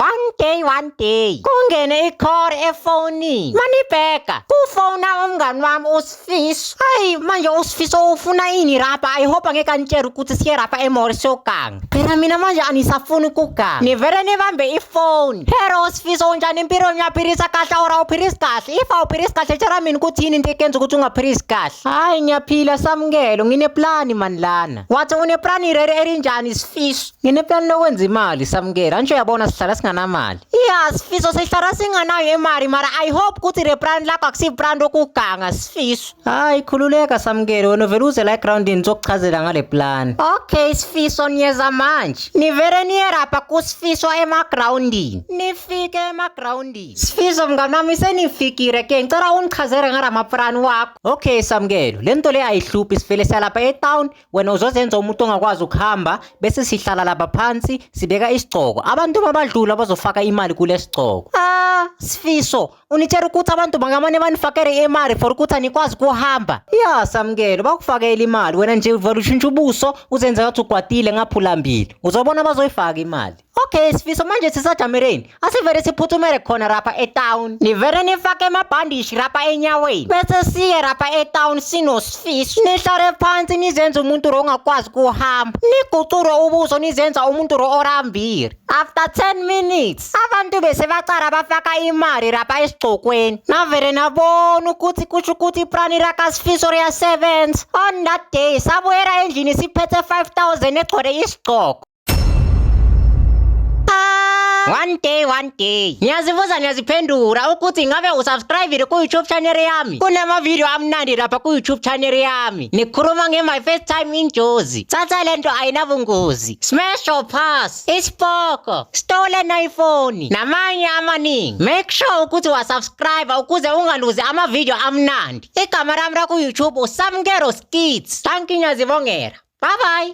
One day one day kungene i-call efonini manibheka kufona umngani wami usifiso hayi manje usifiso ufuna ini rapa i hope angeke anitshele ukuthi siye rapa emall siyoganga phela mina manje anisafuni ukuganga nivele nibambe ifoni hero usifiso unjani empilweni uyaphilisa kahle or awuphilisi kahle if awuphilisi kahle tshela mina ukuthi yini into ekenza ukuthi ungaphilisi kahle hayi ngiyaphila samukelo ngineplani mani lana wathi uneplani rere elinjani sifiso Ngineplani lokwenza imali samukela nje uyabona sihlala singanamali. Yeah sifiso sihlala singanayo imali mara I hope ukuthi le brand lakho akusi brand okuganga sifiso. Hayi khululeka samukele wena vele uze la ground nizokuchazela ngale plan. Okay sifiso niyeza manje. Nivele niyerapha kusifiso ema groundini. Nifike ema groundini. Sifiso mnganami senifikile ke ngicela ungichazele ngala maplan wakho. Okay samukelo lento le ayihluphi sivele salapha e town wena uzozenza umuntu ongakwazi ukuhamba bese sihlala laba phansi sibeka isigcoko abantu babadlula bazofaka imali kule sigcoko ah sifiso unitshela ukuthi abantu bangamane banifakele imali for ukuthi anikwazi kuhamba ya samkelo bakufakele imali wena nje uvela ushintsha ubuso uzenza ngathi ugwadile ngaphulambili uzobona bazoyifaka imali Okay sifiso manje sisajamereni asivele siphuthumele khona rapha etown nivele nifake amabhandishi rapha enyaweni bese siye rapha etown sinosifiso nihlale phansi nizenze umuntu ro ongakwazi kuhamba nigucure ubuso nizenza umuntu ro orambile after 10 minutes abantu bese bacala bafaka imali rapha esigcokweni navele nabona ukuthi kusho ukuthi iprani rakasifiso riyasebenza on that day sabuyela endlini siphethe 5000 egcwele isigcoko One day one day ngiyazibuza ngiyaziphendula ukuthi ngabe usubscribile ku-youtube channel yami kunamavidiyo amnandi lapha ku-youtube channel yami nikhuluma nge-my first time injozi thatha le nto ayinabungozi smash or pass isipoko stolen iphone namanye amaningi make sure ukuthi wasubscribe ukuze ungaluzi amavidiyo amnandi igama lami laku-youtube usamkero skits thank you ngiyazibongela Bye bye.